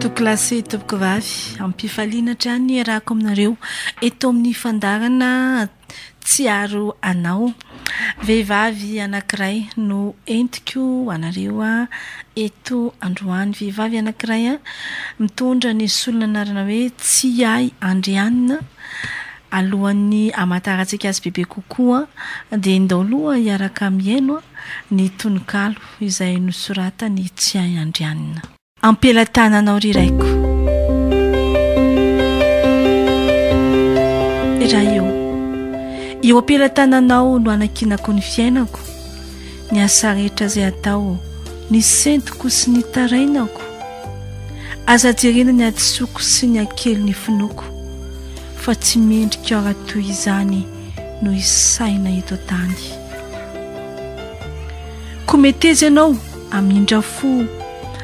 Tokilasy Tompkovavy, ampifaliana hatrany ny iarahako aminareo eto amin'ny fandarana Tsiaro Anao. Vehivavy anankiray no entiko anareo eto androany. Vehivavy anankiray mitondra ny solon'anarana hoe Tsiahy Andrianina. Alohan'ny hamantarantsika azy bebe kokoa dia ndao aloha hiaraka mihaino ny tononkalo. Izay nosoratany Tsiahy Andrianina. Am-pelatananao ry Raiko. Ray ô. Eo am-pelatananao no anankinako ny fiainako, ny asa rehetra izay atao, ny sentiko sy ny tarainako. Aza jerena ny hadisoako sy ny hakely ny finoako, fa tsy mendrika ora toy izany no isaina eto an-tany. Ko meteza ianao hamindra fo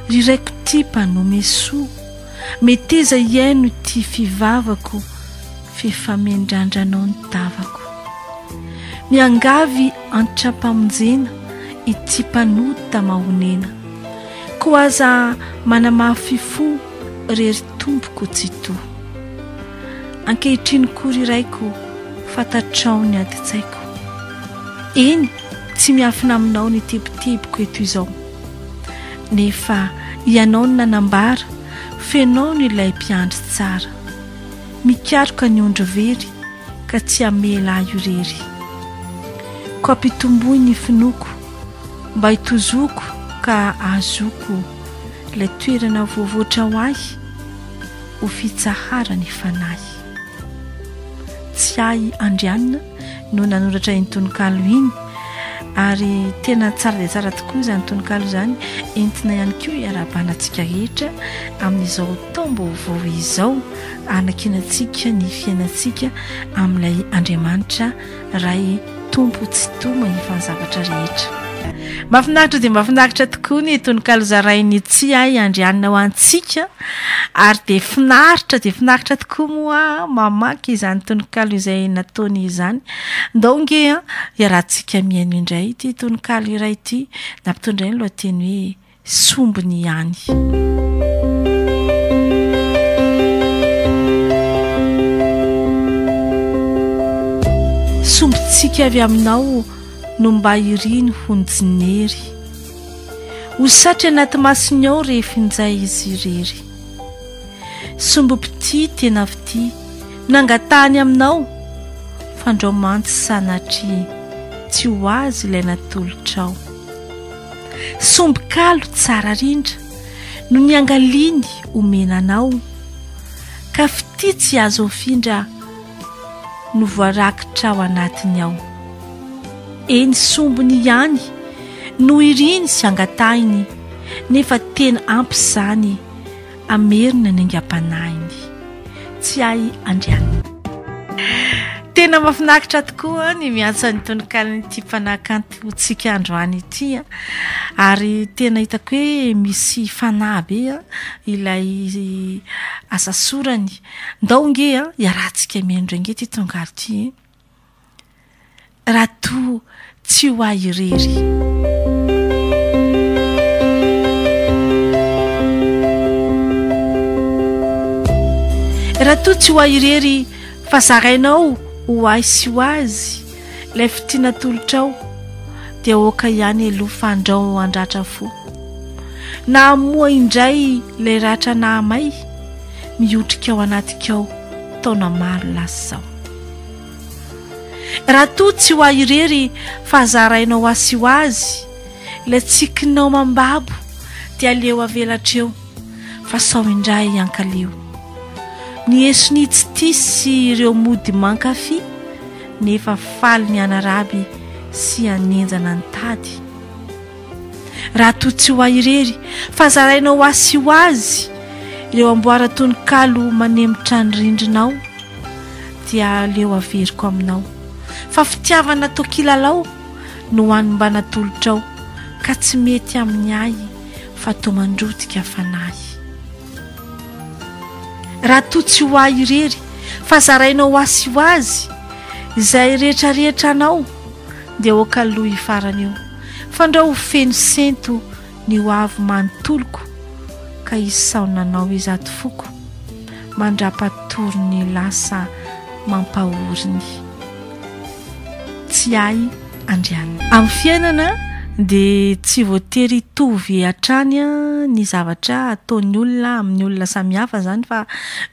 Ry Raiko tia mpanome soa Meteza hihaino ity fivavako F'efa mendrandranao ny tavako Miangavy antra-pamonjena Ity mpanota mahonena Ko aza manamafy fo Re ry Tompoko Tsitoha Ankehitriny koa ry Raiko fantatrao ny adin-tsaiko Eny tsy miafina aminao ny tebitebiko eto izao Nefa ianao no nanambara f'enao no ilay mpiandry tsara Mikaroka ny ondry very ka tsy hamela ahy irery Ko ampitomboy ny finoako mba hitozoko ka ahazoako Ilay toerana voavoatra ho ahy ho fitsahara ny fanahy. Tsiahy Andrianina no nanoratra iny tononkalo iny ary tena tsara dia tsara tokoa izany tononkalo izany, entina ihany koa iarahabana antsika rehetra amin'izao taom-baovao izao, hanakiana antsika ny fiainantsika amin'ilay Andriamanitra. Ray Tompo tsy toma ny fanzavatra rehetra. Mafinaritra dia mafinaritra tokoa ny tononkalo zarain'i Tsiay Andrianina ho antsika ary dia finaritra dia finaritra tokoa moa mamaky izany tononkalo izay nataony izany. Ndao nge an, iarahantsika mihaino indray ity tononkalo iray ity. Nampitondray ny lohateny hoe. sombiny ihany. Sombintsika avy aminao no mba iriny honjinery ho satry anaty masony ao rehefinjay izy irery sombimpitia tena fitia nangatahany aminao fandrao mantsy sanatria tsy ho azy ilay natolotrao Sombin-kalo tsara rindra no niangaliany omena anao, ka fitia tsy azo afindra no voarakitra ao anatiny ao. Eny sombiny ihany no iriny sy angatahiny, nefa tena ampy izany. Hamerina ny aingam-panahiny. Tsy hay andrianina. Tena mahafinaritra tokoa ny miantso an'ny tononkalon'ity mpanakantontsika androany ity a, ary tena hitako hoe misy fanahy be ilay asa sorany. Ndao nge hiarahantsika mihaino indray nge ity tononkalon'ity e. raha toa tsy ho ahy irery. Raha toa tsy ho ahy irery fa zarainao ho ahy sy ho azy ilay fitia natolotrao dia aoka ihany aloha fandrao handratra fo. Na hamoha indray ilay ratra nahamay mihotrika ao anatikao taona maro lasa izao. Raha toa tsy ho ahy irery fa zarainao asyho azy ilay tsikinao mambabo dia aleo avelatra eo fa sao indray hankaleo Ny esonia tsy tia sy ireo mody mankafy nefa faly ny hanaraby sy hanenjana ny tady Raha toa tsy ho ahy irery, fa zaraina ho ahy sy ho azy ireo amboaran-tononkalo manemotra ny rindrinao, dia aleo averiko aminao fa fitiavana atao kilalao no any mba natolotrao ka tsy mety amin'ny ahy fa toa mandrotika fanahy. Raha toa tsy ho ahy irery, fa zaraina ho ahy sy ho azy izay rehetrarehetra anao, Ndeha ho kaloa io farany io. Fandrao ho feno sento ny ho avy manontoloko ka hisaona anao izato foko mandrapatory ny lasa mampahory ny tsy ahy andrianina. Amin'ny fiainana dia tsy voatery hitovy hatrany ny zavatra ataon'ny olona amin'ny olona samihafa izany fa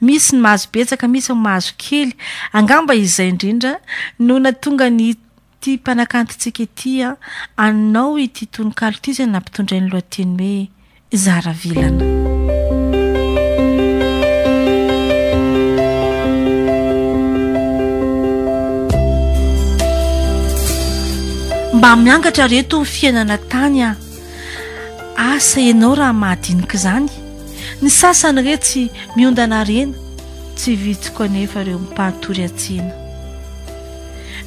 misy ny mahazo betsaka misy ny mahazo kely. Angamba izay indrindra no nahatonga ny Ity mpanakantontsika ity an! Anao ity tononkalo ity izay nampitondray ny lohateny hoe Zara vilana. Mba miangatra reto ny fiainana tany an! Asa ianao raha mahadinika izany? Ny sasany re tsy miondana harena, tsy vitsy koa anefa ireo mipahatory hatsiana.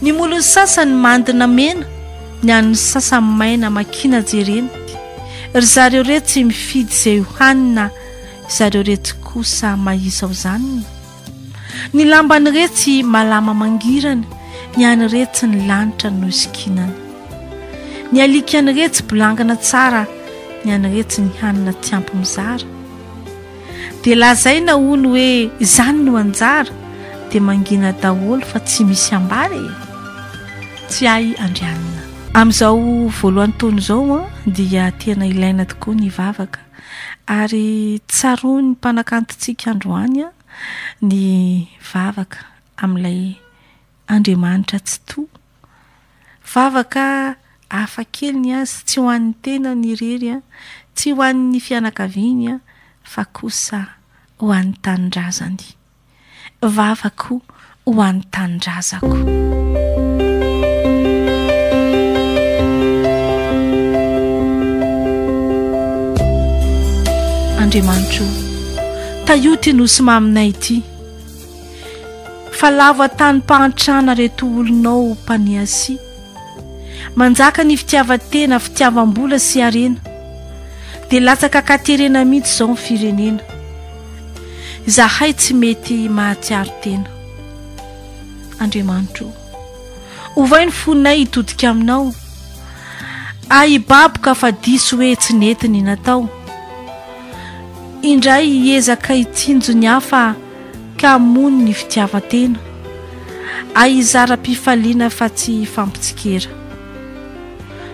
Ny molon'ny sasany mandina mena, ny an'ny sasany maina makina jerena. Ry zareo re tsy mifidy izay ho hanina, izareo reto kosa mahizaozanina. Ny lambany re tsy malama mangirana, ny any re tsy ny lanitra no isikinana. Ny alikany re tsy bolangana tsara, ny any re tsy ny hanina tsy ampy mizara. Dia lazaina hono hoe izany no anjara dia mangina daholo fa tsy misy ambara e! Tsy ahy Andrianina. Amin'izao voalohan'ny taona izao an, dia tena ilaina tokoa ny vavaka, ary tsaroan'ny mpanakantontsika androany an, ny vavaka amin'ilay Andriamanitra Tsitoha. Vavaka hafa kely ny azy, tsy ho an'ny tenany irery, tsy ho an'ny fianakaviany, fa kosa ho an'ny tanindrazany. Vavako ho an'ny tanindrazako. Andriamanitro, tahio ity nosy maminay ity. Fa lava tanim-pahantrana reto olonao mpaniasia. Manjaka ny fitiavan-tena, fitiavam-bola sy harena. Dia latsaka katerena mihitsy izao ny firenena. Izahay tsy mety mahatsiaro tena. Andriamanitro o, ovay ny fonay hitodika aminao. Ahy hibaboka fa diso hoe tsy nety ny natao. Indray hiezaka hitsinjo ny hafa. ka hamono ny fitiavan-tena, a hizaram-pifaliana fa tsy hifampitsikera,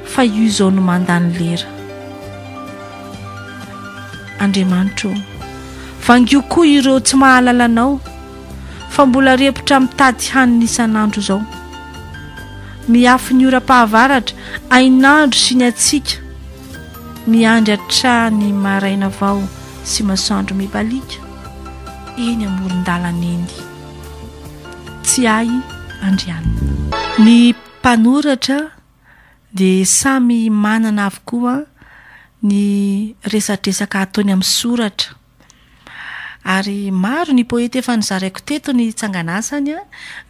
fa io izao no manda ny lera. Andriamanitro ô, vangio koa ireo tsy mahalala Anao, fa mbola repotra mitady hanina isan'andro izao. Miafy ny oram-pahavaratra, hainandro sy ny hatsiaka, miandry hatrany maraina vao sy masoandro mibaliaka. eny amoron-dalana eny. Tsiahy Andrianina. Ny mpanoratra dia samy manana avokoa ny resadresaka ataony amin'ny soratra ary maro ny poeta efa nozaraiko teto ny tsanganasany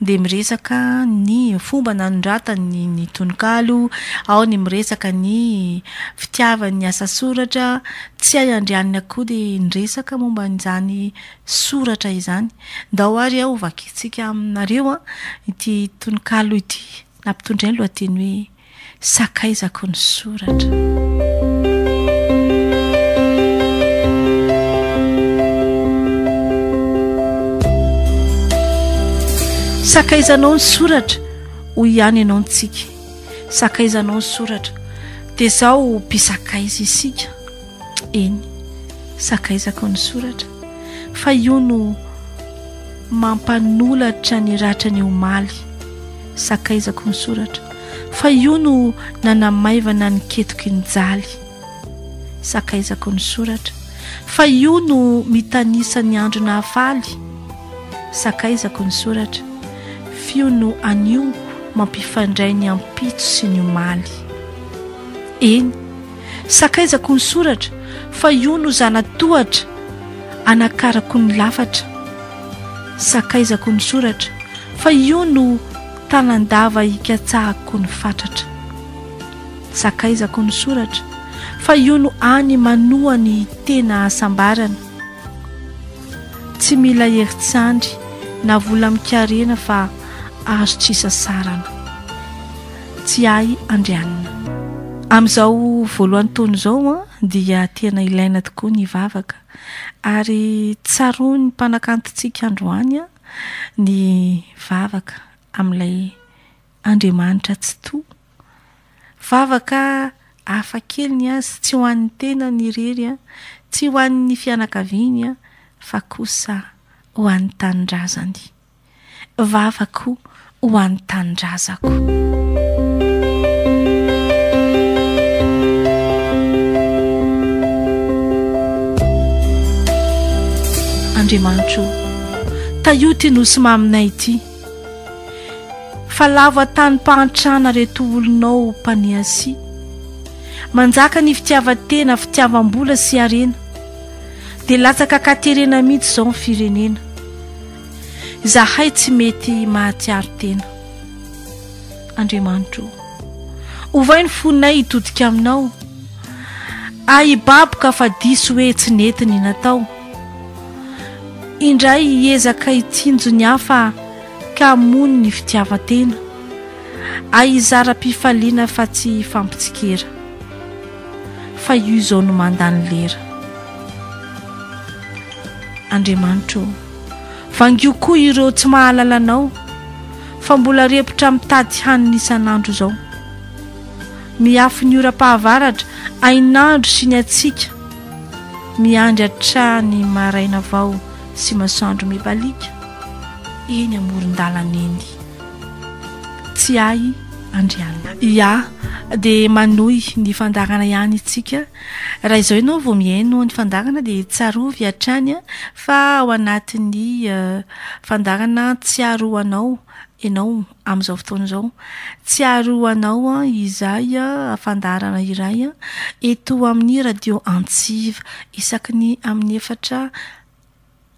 dia miresaka ny fomba nanoratany ny tononkalo, ao ny miresaka ny fitiavany ny asa soratra Tsy hay andrianiny akoho dia niresaka momba an'izany soratra izany. Ndao ary aho hovakintsika aminareo ity tononkalo ity nampitondray ny lohateny hoe Sakaizako ny soratra. Sakaizanao ny soratra, hoy ihany ianao ny tsiky. Sakaizanao ny soratra. Dia izao ho mpisakaiza isika. Eny, sakaizako ny soratra. Fa io no mampanolatra ny ratra ny omaly. Sakaizako ny soratra. Fa io no nanamaivana ny ketoky ny jaly. Sakaizako ny soratra. Fa io no mitanisa ny andro nahafaly. Sakaizako ny soratra, f'io no anio mampifandray ny ampitso sy ny omaly. Eny, sakaizako ny soratra, fa io no zana-tohatra anakarako ny lafatra. Sakaizako ny soratra, fa io no tanan-dava ikatsahako ny fatratra. Sakaizako ny soratra, fa io no any manoa ny tena hasambarana. Tsy mila herin-tsandry na vola mikarena fa azo tsy sasarana. Tsiahy Andrianina. Amin'izao voalohan'ny taona izao dia tena ilaina tokoa ny vavaka ary tsaroan'ny mpanakantontsika androany ny vavaka amin'ilay Andriamanitra Tsitoha. Vavaka hafa kely ny azy, tsy ho an'ny tenany irery, tsy ho an'ny fianakaviany, fa kosa ho an'ny tanindrazany. Vavako ho an'ny tanindrazako. Andriamanitro, tahio ity nosy maminay ity. Fa lava tanim-pahantrana reto olonao mpaniasia. Manjaka ny fitiavan-tena, fitiavam-bola sy harena. Dia latsaka katerena mihitsy izao ny firenena. Izahay tsy mety mahatsiaro tena. Andriamanitro o. Ovay ny fonay hitodika aminao. Ahibaboka fa diso hoe tsy nety ny natao. indray hiezaka hitsinjo ny hafa ka hamono ny fitiavan-tena, hay hizara am-pifaliana fa tsy hifampitsikera, fa io izao no manda ny lera. Andriamanitra ô, vangio koa ireo tsy mahalala Anao, fa mbola repotra mitady hanina isan'andro izao. Miafy ny oram-pahavaratra, hainandro sy ny hatsiaka, Miandry hatrany maraina vao sy masoandro mibaliaka eny amoron-dalana eny. Tsy ahy Andriana. Ia, dia manohy ny fandaharana ihany isika. Raha izao ianao vao mihaino ny fandaharana dia tsarovy hatrany fa ao anatin'ny fandaharana tsiaro anao ianao. amin'izao fotoana izao. Tsiaro ho anao izay fandaharana iray eto amin'ny Radio Antsiva. Isaky ny amin'ny efatra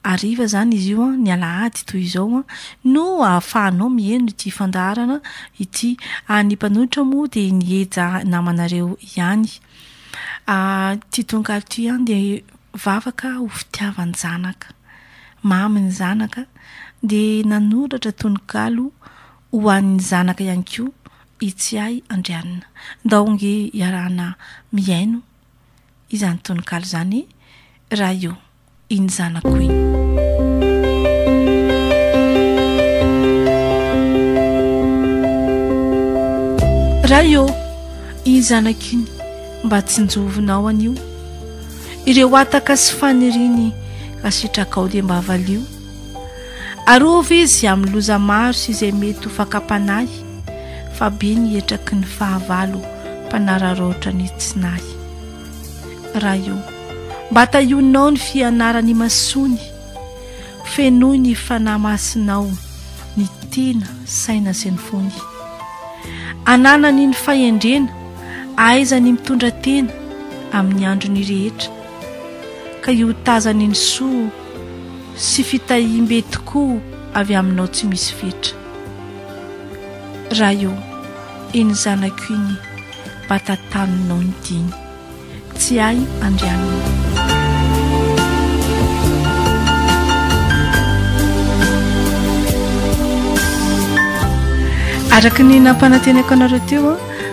hariva izany izy io, ny alahady toy izao, no ahafahanao mihaino ity fandaharana ity. Ny mpanohitra moa dia ny Eja namanareo ihany. Ity tononkalo ity dia Vavaka ho fitiavan-janaka. Mamy ny zanaka dia nanoratra tononkalo ho an'ny zanaka ihany koa i Tsiahy Andrianina. Ndao ange iarahana mihaino izany tononkalo izany raha io Iny zanako iny. Raha io Iny zanako iny. Mba tsinjovinao anio Ireo hataka sy faniriny Ka sitrakao dia mba valio Arovy izy amin'ny loza maro Sy izay mety ho fakam-panahy Fa be ny hetraky ny fahavalo Mpanararaotra ny tsy nahy Raha io Mba tahionao ny fianaran'imasoany Fenoy ny Fanahy Masinao ny tena, saina sy ny fony. Ananany ny fahendrena, ahaizany mitondra tena amin'ny androny rehetra, ka iotazany ny soa sy fitahiam-be tokoa avy Aminao tsy misy fetra. Ray ô, eny zanako iny, bata taninao ny diny. Tsy ahy andrianina. Araka ny nampanantenako anareo teo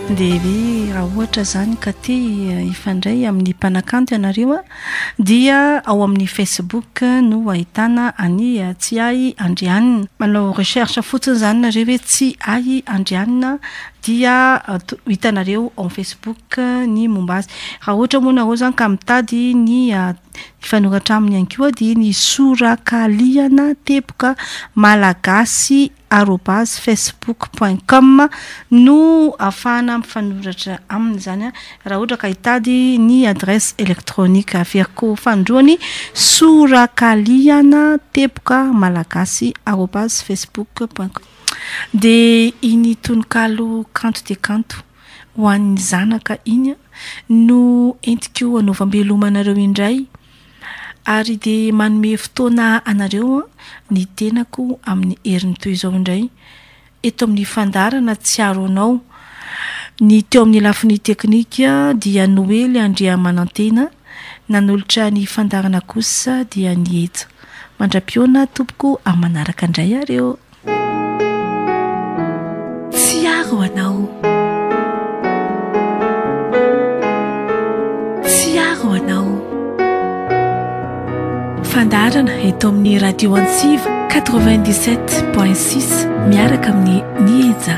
dia ve raha ohatra zany ka te eh, hifandray amin'ny mpanakanto ianareo a dia ao amin'ny facebook no ahitana any eh, tsy ahy andrianina manao recherche fotsiny zany nareo hoe tsy ahy andrianina dia hitanareo ao Facebook ny momba azy. Raha ohatra moa nareo zany ka mitady ny hifanoratra aminy ihany koa dia ny sorakalihana teboka malagasy arobase facebook point com no afahana mifanoratra aminy zany raha ohatra ka hitady ny adresse électronique averiko fanindroany sorakalihana teboka malagasy arobase facebook point com. Dia iny tononkalo kanto dia kanto ho an'ny zanaka iny no entiko hanaovam-beloma anareo indray ary dia manome fotoana anareo ny tenako amin'ny heriny toy izao indray eto amin'ny fandaharana Tsiaro Anao. Ny teo amin'ny lafiny teknika dia Noely Andriamanantena Nanolotra ny fandaharana kosa dia ny eto. Mandra-piona tompoko amin'ny manaraka indray ary ô. Tsiaro anao. Tsiaro anao. Fandaharana eto amin'ny radio Antsiva 97.6 miaraka amin'ny Nieja.